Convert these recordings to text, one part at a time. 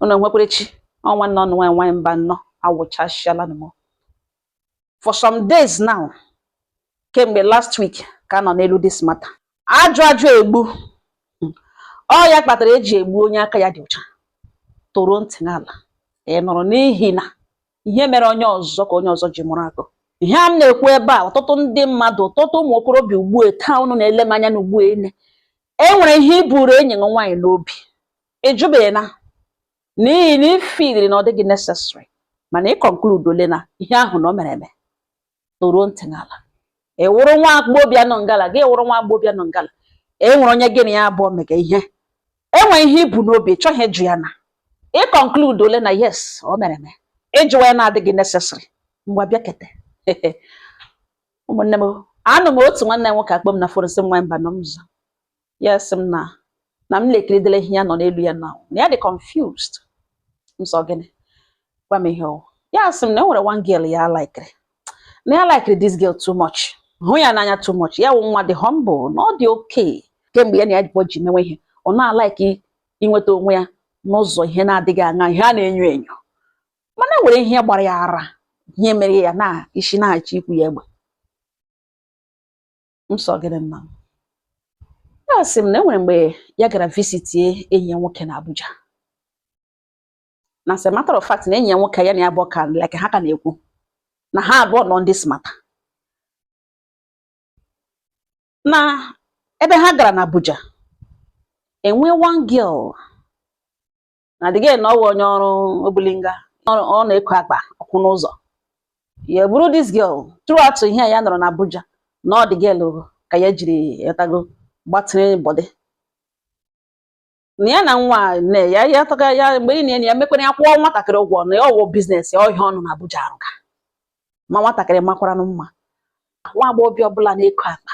unu nwekwere chi ọ nwanne unu nwa nwaanyị Mbano awụchasịala m for some days now kemgbe last week ka a nọ n'elu this matter ajụ ajụ egbu ọ ya kpatara eji egbu onye aka ya dị ụcha toro ntị n'ala ị nụrụ n'ihi na ihe mere onye ọzọ ka onye ọzọ ji mụrụ akọ ihe a m na-ekwu ebe a ọtụtụ ndị mmadụ ọtụtụ ụmụ okorobịa ugbu a taa unu na-ele m anya na ugbu a e nwere ihe i buru enyi gị nwaanyị n'obi ị jụbeghị ya n'ihi na i feeliri na ọ dịghị necessary mana ị concludeole na ihe ahụ na o mere eme toro ntị n'ala ị wụrụ nwa agbọghọbịa nọ ngala gị wụrụ nwa agbọghọbịa nọ ngala e nwere onye gị na ya abụọ mega ihe e nwere ihe i bu n'obi ị chọghị ịjụ ya na ị concludeole na yes o mere eme ịjụwa ya na-adịghị necessary ngwa bịakete ụmụnne m anọ m otu nwanne m nwoke akpọọ m na fon sị m nwa Mbano mụ aza ya sị m na na m lekiridela ihe ya nọ n'elu ya na na ya dị confused m sị ọ gịnị gwa m ihe ọ wụ ya sị m na e nwere one girl ya likere na ya likere this girl too much hụ ya n'anya too much ya wụ nwa dị humble na ọ dị okay kemgbe ya na ya abụọ ji mewe ihe ọ na-alike inweta onwe ya n'ụzọ ihe na-adịghị aṅa ihe a na-enyo enyo mana e nwere ihe ya gbara ya ara ihe mere ya na isi na-achọ ikwu ya egbe m sị ọ gịnị nna m ya sị m na enwere mgbe ya gara visitie enyi ya nwoke na Abuja na as a matter of fact na enyi ya nwoke ya na ya abụọ ka like ha ka na-ekwu na ha abụọ nọ na this matter na ebe ha gara na Abuja enwe one girl na the girl na ọ wụ onye ọrụ obulinga ọ na-eko akpa ọkwụ n'ụzọ ya buru this girl throughout ihe ya nọrọ na Abuja na ọ the girl ka ya jiri yatago gbatịrị body na ya na nwa nne ya ya taga ya mgbe niile ya mekwara ya kwụọ nwatakịrị ụgwọ na ya ọ wụ business ya ọ ihe ọ nọ na Abuja arụga ma nwatakịrị makwaranụ mma nwa agbọghọbịa ọbụla na-eko akpa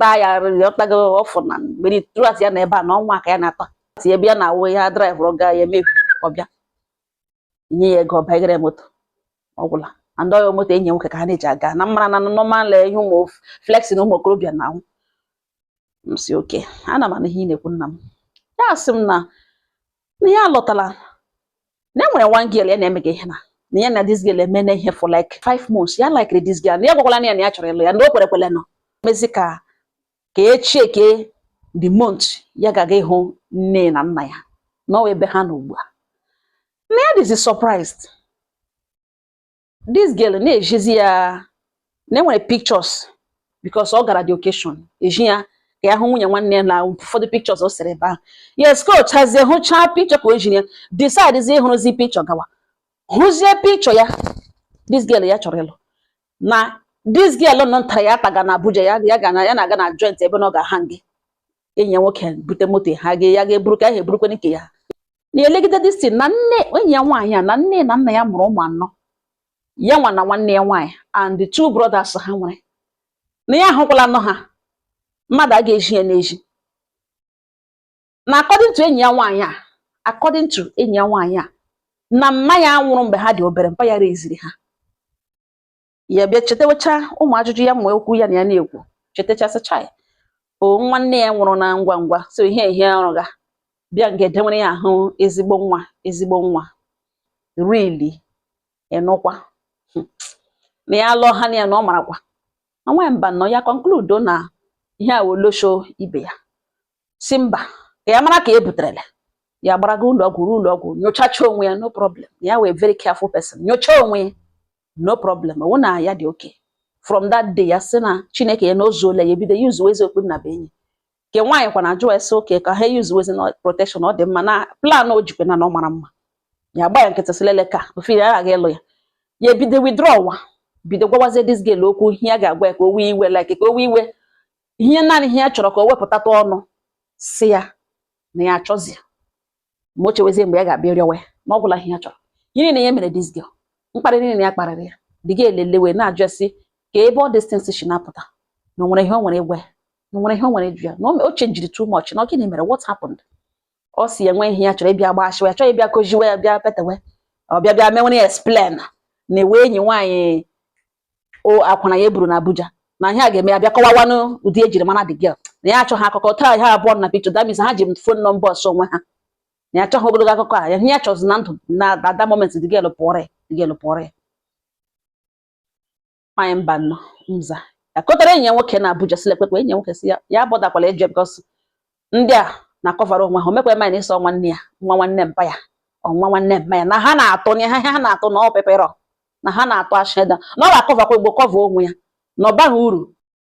taa ya rịrị ọtago ọfụ na mgbe throughout ya nọ ebe a na ọ nwa ka ya na-ata si ebe ya na-awụ ya driveụrụ ga ya eme ọbịa nye ya ego ọbagere moto ọ gwụla and ọ ya moto enyi ya nwoke ka ha na-eji aga na ị maara na normal ihe ụmụ flexing ụmụ okorobịa na-ahụ m sị okay ana m anụ ihe ị na-ekwu nna m ya sị m na na ya lọtala na enwere one girl ya na-emega ihe na na ya na this girl emena ihe for like five months ya likere this girl na ya gwakwalanụ ya na ya chọrọ ịlụ ya na o kwerekwele nọ mezi ka ka e checkie the month ya ga-aga ịhụ nne na nna ya na ọ ebe ha nọ ugbu a na ya dịzi surprised this girl na-ezizi ya na e nwere pictures because ọ gara the occasion eji ya ka ya hụ nwunye nwanne ya na ụfọdụ pictures o sere ebe ahụ yes ka o chazie hụchaa picture ka o ji ya decide ịhụrụzi picture gawa hụzie picture ya this girl ya chọrọ ịlụ na this girl nọ ntara ya taga na Abuja ya ya ga na ya na-aga na joint ebe na ọ ga-aha gị enyi ya nwoke bute moto ha gị ya ga-eburu ka ya ha eburukwe nke ya na-elegide this thing na nne enyi ya nwaanyị a na nne na nna ya mụrụ ụmụ anọ ya nwa na nwanne ya nwaanyị and the two brothers ha nwere na ya ahụkwala nọ ha mmadụ a ga-ezi ya n'ezi na according to enyi ya nwaanyị a according to enyi ya nwaanyị a na mma ya nwụrụ mgbe ha dị obere mpa ya raisiri ha ya bịa chetawecha ụmụ ajụjụ ya ụmụ okwu ya na ya na-ekwu chetachasịcha ya ọ nwanne ya nwụrụ na ngwa ngwa so ihe ihe ọrụ ga bịa nga e denwere ya ahụ ezigbo nwa ezigbo nwa really ịnụkwa hmm. na ya lụọ ha na ya na ọ marakwa na nwa Mbano ya concludo na ihe a wụ olosho ibe ya sị mba ka ya mara ka e buterele ya gbaraga ụlọ ọgwụ ruo ụlọ ọgwụ nyochacha onwe ya no problem ya wụ a very careful person nyocha onwe ya no problem ọ wụ na ya dị okay from that day ya sị na chineke ya na o zuola ya ebido usewezi okpu nnabuenyi nke nwaanyị kwanụ ajụ sị okay ka ha usewezi na protection ọ dị mma na plan o jikwe na na ọ mara mma ya gba ya nkịtị sị lele ka ofe ya aghaghị ịlụ ya ya ebido withdraw wa bido gwawazie this girl okwu ihe ya ga-agwa ya ka o wee iwe like ka o wee iwe ihe naanị ihe ya chọrọ ka o wepụtata ọnụ sị ya na ya achọzi ma o chewezie mgbe ya ga-abịa rịọwa ya na ọ gwụla ihe ya chọrọ ihe niile ya mere this girl mkparị niile ya kparịrị ya the girl elelewe na-ajụ ya sị ka ebe all these things si na-apụta na o nwere ihe o nwere ịgwa ya na o nwere ihe o nwere ịjụ ya na o me- o changiri too much na ọ gịnị mere what happened ọ sị ya nwee ihe ya chọrọ ịbịa gbashiwa ya chọrọ ịbịa kojiwe ya bịa petewe ọ bịa bịa menwere ya explain na ewe enyi nwaanyị o akwụna ya eburu na Abuja na ihe a ga-eme ya bịa kọwawanụ ụdị e jiri mara the girl na ya achọghị akụkọ taa ha abụọ na picture that means ha ji phone number ọsọ onwe ha na ya achọghị ogologo akụkọ a ihe ya chọzi na ndụ na at that moment the girl pụọrọ ya the girl pụọrọ ya nwanyị Mbano mza ya kọtara enyi ya nwoke na Abuja silekpekpe enyi ya nwoke sị ya ya botherkwala ịjụ ya because ndị a na-akọvara onwe ha o mekwa eme na ịsọ nwanne ya nwa nwanne mpa ya ọ nwa nwanne mpa ya na ha na-atụ na ha ha na-atụ na ọ peperọ na ha na-atụ asheda na ọ ga-akọvakwa igbo kọva onwe ya na ọ baghị uru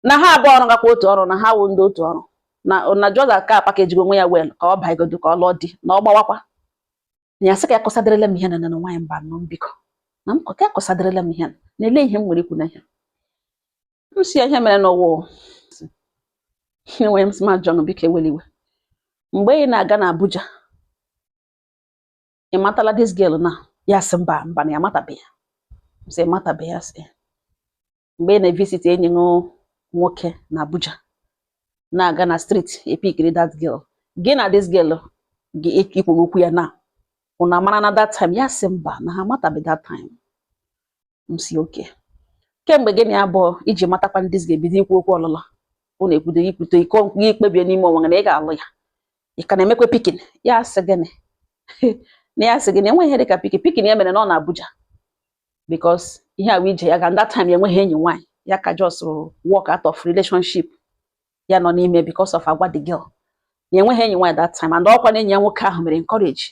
na ha abụọ ọrụ gakwa otu ọrụ na ha wụ ndị otu ọrụ na na just ka a package onwe ya well ka ọ baigodo ka ọ lụọ di na ọ gbawakwa na ya sị ka akọsaderela m ihe na na nwaanyị Mbano m biko na m ka akọsaderela m ihe na ele ihe m nwere ikwu na ihe m si ya ihe mere n'ụwa o. Sị, enwere m sị ma John biko ewela iwe mgbe ị na-aga na Abuja ị matala this girl na ya sị mba mba na ya matabeghị m sị matabeghị ya sị mgbe ị na-evisit enyi gị nwoke na Abuja na-aga na street ị pikiri that girl gị na this girl ị kwuru okwu ya na unu amarana that time ya sị mba na ha matabeghị that time m si okay kemgbe gị na ya abụọ ji matakwa ndị zi ga-ebido ikwu okwu ọlụlụ unu ekwudo ikwute iko gị kpebie n'ime onwe gị na ị ga-alụ ya ị ka na-emekwa picking ya sị gịnị na ya sị gịnị enweghị ihe dịka picking picking ya mere na ọ na Abuja because ihe awa ije ya ga that time ya enweghị enyi nwaanyị ya ka just walk out of relationship ya nọ n'ime because of agwa the girl na enweghị enyi nwaanyị that time and ọkwa na enyi ya nwoke ahụ mere encourage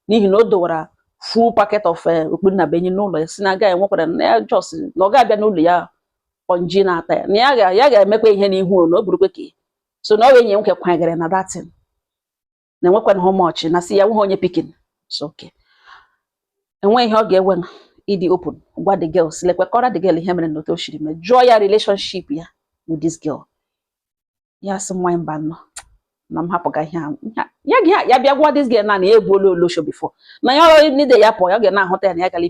n'ihi na o dowara full packet of eh, okpu nnabuenyi n'ụlọ ya si na agaghị enwekwara na ya just na ọ ga-abịa n'ụlọ ya konji na-ata ya na ya ga-emekwa ihe n'ihu na o burukwe ka so na ọ wa enyi nwoke kwanyegara na that thing na enwekwana how much na si ya nweghị onye pikin so okay enweghị ihe ọ ga-ewe ịdị open gwa the girl si lekwe kọrọ the girl ihe mere na otu o siri mee jụọ ya relationship ya with this girl ya sị mụwa mba no na m hapụga ihe ahụ ya gị ya bịa gwa this girl na na ya egbuola olosho before na ya ọrụ nide ya pụọ ya ga na-ahụta ya na ya gara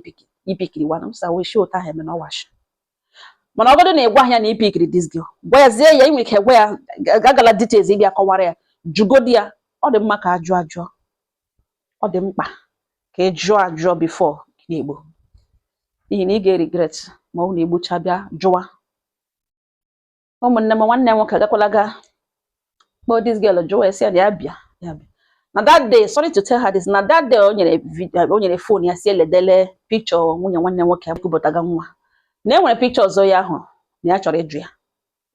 pikiri wana m sa wee shi ụta ha eme na ọwashi mana ọgọdụ na ị gwa ya na ị pikiri this girl gwa ya zie ya i nwe ike gwa ya gagala details ị bịa kọwara ya jugodi ya ọ dị mma ka a jụọ ajụ ọ dị mkpa ka ị jụọ ajụ before ị na-egbu n'ihi na ị ga-eregret ma ọ wụ na e gbucha bịa jụwa ụmụnne m nwanne m nwoke agakwala ga kpọọ this girl jụọ ya sị ya na ya bịa ya bịa na that day sorry to tell her this na that day o nyere phone ya si eledele picture nwunye nwanne m nwoke kupụtaga nwa na e nwere picture ọzọ ya ahụ na ya chọrọ ịjụ ya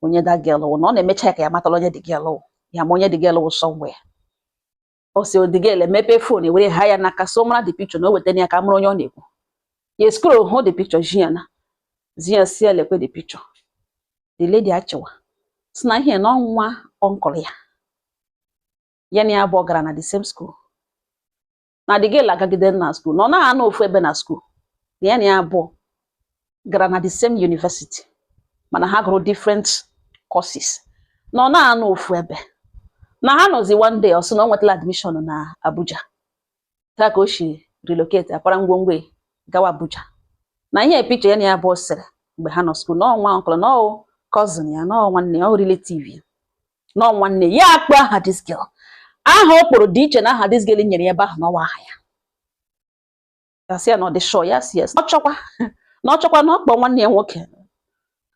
onye that girl wụ na ọ na-emecha ya ka ya matala onye the girl wụ ya ma onye the girl wụ somewhere ọ sị the girl emepee phone ewere ha ya n'aka so mara the picture na o wetara ya ka ọ mara onye ọ na-ekwu ya scroll hụ the picture zi ya na zi ya sị ya lekwe the picture the lady achịwa si na ihe na ọ nwa uncle ya ya na ya abụọ gara na the same school na the girl agagide na school na ọ naghị anọ ofu ebe na school na ya na ya abụọ gara na the same university mana ha gụrụ different courses na ọ naghị anọ ofu ebe na ha nọzi one day ọ sị na ọ nwetala admission na Abuja otu a ka o si relocate akwara ngwongwo ya gawa Abuja na ihe picture ya na ya abụọ sere mgbe ha nọ school na ọ nwa uncle na ọ wụ cousin ya na nwanne ya ọ relative ya na nwanne ya akpọ aha this girl aha ọ kpọrọ dị iche na aha this girl nyere ya ebe ahụ na ọ wa aha ya ya sị ya na ọ dị sure ya sị yes na ọ chọkwa na ọ chọkwa na ọ kpọ nwanne ya nwoke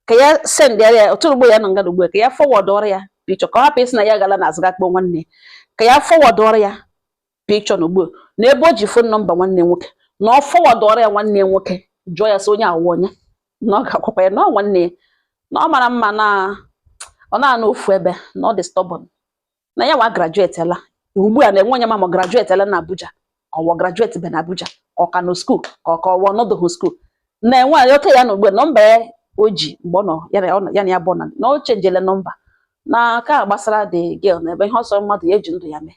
ka ya sendara ya otu ugbo ya nọ nga ugbu a ka ya forwardọrọ ya picture ka ọ hapụ ịsị na ya gala na azụ ga kpọ nwanne ya ka ya forwardọrọ ya picture na ugbu a na ebe o ji phone number nwanne ya nwoke na ọ forwardọrọ ya nwanne ya nwoke jụọ ya sị onye a wụ onye na ọ ga-agwakwa ya na ọ nwanne ya na ọ mara mma na ọ na-anọ ofu ebe na ọ dị stubborn na ya wa graduatela ugbu a na enwe onye ma ma ọ graduatela na Abuja ka ọ wụ ọ graduatebe na Abuja ka ọ ka nọ school ka ọ ka ọ wụ ọ nọdụhụ school na-enwe anyị oke ya na ugbu a number ya o ji mgbe ọ nọ ya na ọ- ya na ya bụ na na o changele number na ka gbasara the girl na ebe ihe ọ sọ mmadụ ya eji ndụ ya mee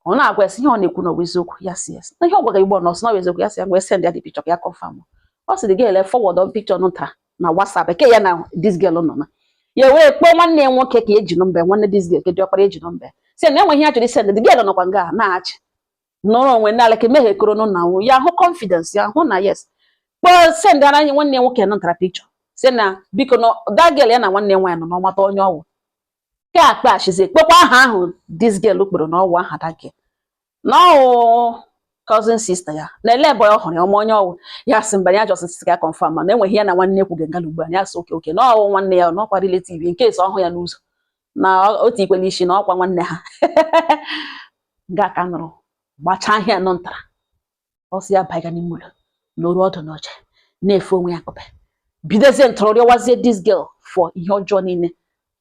ọ na-agwa ya sị ihe ọ na-ekwu na ọ wụ eziokwu ya sị yes na ihe ọ gwara igbo na ọ sị na ọ wụ eziokwu ya sị ya ngwa send ya the picture ka ya confirm ọ sị the girl e forwardọ picture nta na WhatsApp ke ya na this girl nọ na ya wee kpọọ nwanne ya nwoke ka eji number nwanne this girl ke dị ọkpara eji number sị na enwe ihe ya chọrọ isend the girl nọkwa nga na-achị nọrọ onwe n'ala ka emeghe koro nụ na ya hụ confidence ya hụ na yes kpọọ sendara anyị nwanne ya nwoke nọ ntara picture sị na biko na that girl ya na nwanne ya nwaanyị nọ na ọ mata onye ọ wụ ke ọkpara ashịzi kpọkwa aha ahụ this girl kpọrọ na ọ wụ aha that girl na ọ wụ cousin sister ya na ele ebe ọ hụrụ ya ọ ma onye ọ wụ ya sị mba ya just sị ka confirm ma na enwe ihe ya na nwanne kwuge ngala ugbu a ya sị okay okay na ọ wụ nwanne ya na ọkwa relative in case ọ hụ ya n'ụzọ na otu ikwe n'isi na ọkwa nwanne ha ga ka nụrụ gbachaa ahịa nọ ntara ọ sị ya baiga n'ime ụlọ nọrọ ọdụ n'oche na-efe onwe ya akupe bidozie ntọrọ rịọwazie this girl for ihe ọjọọ niile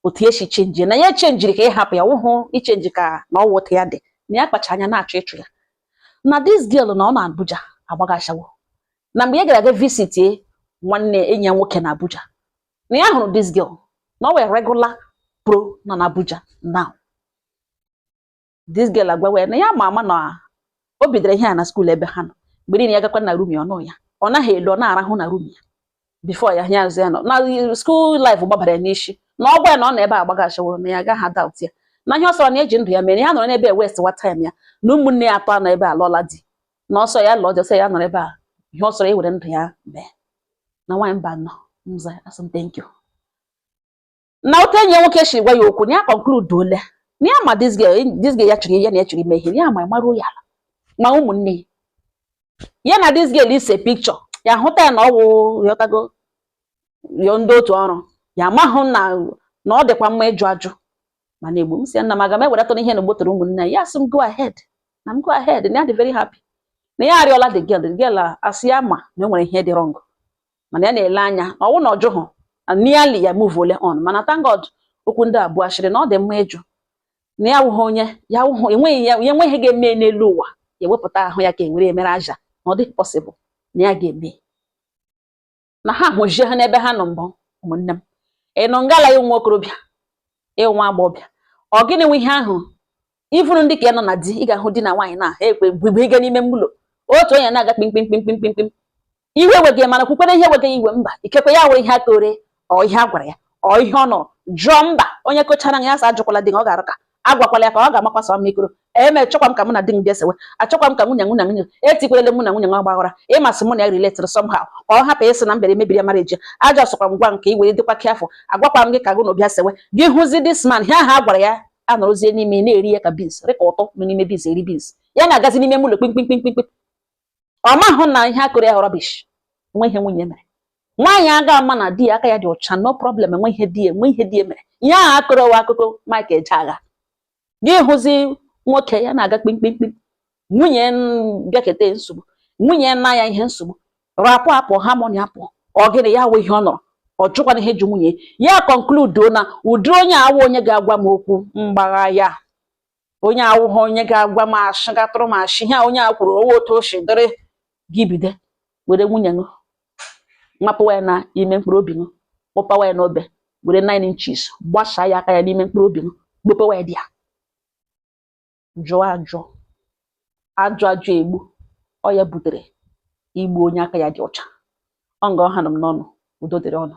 otu ya si change na ya changeri ka ịhapụ ya wụhụ ichange ka na ọ wụ otu ya dị na ya kpacha anya na-achọ ịchụ ya na this girl na ọ nọ Abuja agbaga ashawo na mgbe ya gara aga visitie nwanne enyi ya nwoke na Abuja na ya hụrụ this girl na ọ wụ a regular pro nọ na Abuja now this girl agwawa ya na ya ma ama na o bidoro ihe a na school ebe ha nọ mgbe niile ya gakwa na room ya ọnụ ya ọ naghị elu ọ na-arahụ na room ya before ya ya azụ ya nọ na school life gbabara ya n'isi na ọ gwa ya na ọ nọ ebe agbaga ashawo na ya agaghị adoubt ya na ihe ọ sọrọ ya eji ndụ ya mere ya nọrọ n'ebe wastewa time ya na ụmụnne ya atọ nọ ebe a alụọla di na ọ sọ ya lụọ di ọ sọ ya nọrọ ebe a ihe ọ sọrọ ya were ndụ ya mee na nwaanyị mba nọ mza asị m thank you na otu enyi ya nwoke si gwa ya okwu na ya concludeola na ya ma this girl this girl ya chụrụ ya na ya chọrọ ime ihe ya ma ịmarụ ya ala ma ụmụnne ya ya na this girl ise picture ya hụta ya na ọ wụ yọtago yo ndị otu ọrụ ya amahụ na na ọ dịkwa mma ịjụ ajụ mana egbu m sị ya nna m aga m ewedatụ ihe na ogbotoro ụmụnne ya asị m go ahead na m go ahead na ya dị very happy na ya arịọla the girl the girl asị ya ma na e nwere ihe dị wrong mana ya na-ele anya na ọwụ na ọjụhụ nearly ya move ole on mana thank God okwu ndị a bụ ashịrị na ọ dị mma ịjụ na ya wụghị onye ya wụghị enweghị ga-eme n'elu ụwa ya ewepụta ahụ ya ka enwere emere aja na ọ dịghị possible na ya ga-eme na ha hụzie ha n'ebe ha nọ mbụ ụmụnne m ị nọ ngala ya nwa okorobịa ị wụ nwa agbọbịa ọ gịnị wụ ihe ahụ ị fụrụ ndị ka ya nọ na di ị ga-ahụ di na nwaanyị na ha ekwe bụbụ ịga n'ime mụlọ otu onye na-aga kpimkpimkpimkpimkpim iwe wee gị mana kwukwere ihe wee gị iwe mba ikekwe ya were ihe a kọrọ ọ ihe a gwara ya ọ ihe ọ nọrọ jụọ mba onye kochara ya sị ajụkwala di ọ ga-arụ ka agwakwala ya ka ọ ga-amakwasa ọma ikoro eme chọkwa m ka mụ na di m bịa sewe achọkwa m ka nwunye etikwelele mụ na nwunye nwa gbaghara ị ma sị mụ na ya related somehow ka ọ hapụ ịsị na mbere mebiri ya marriage aja sọkwa m gwa nke i were dịkwa careful agwakwa m gị ka gụ na bịa sewe gị hụzi this man ihe ha gwara ya a nọrọzie n'ime na-eri ya ka beans rị ka ụtụ nọ n'ime beans eri beans ya na-agazi n'ime mụlọ kpimkpimkpimkpim ọ mahụ na ihe a kọrọ ya rubbish nwe ihe nwunye mere nwaanyị aga ama na di ya aka ya dị ọcha no problem enwe ihe di mere ihe ahụ a kọrọ wụ akụkọ Mike Ejeagha gị hụzi nwoke ya na-aga kpimkpimkpim nwunye bịakete nsogbu nwunye nna ya ihe nsogbu rapụ apụ harmony apụ ọ gịnị ya wụ ihe ọ nọrọ ọ jụkwana ihe ji nwunye ya conclude na ụdị onye a wụ onye ga-agwa m okwu m gbagha ya onye a wụghị onye ga-agwa m ashị gatụrụ m ashị ihe a onye a kwuru ọ wụ otu o si dịrị gị bido were nwunye ṅụ mapụwa ya na ime mkpụrụ obi ṅụ kpọpawa ya n'obe were 9 inches gbasaa ya aka ya n'ime mkpụrụ obi ṅụ gbopewa ya dị ya jụọ ajụ ajụ ajụ egbu ọ ya butere igbu onye aka ya dị ọcha ọ nga ọ hanụ m n'ọnụ udo dịrị ụnụ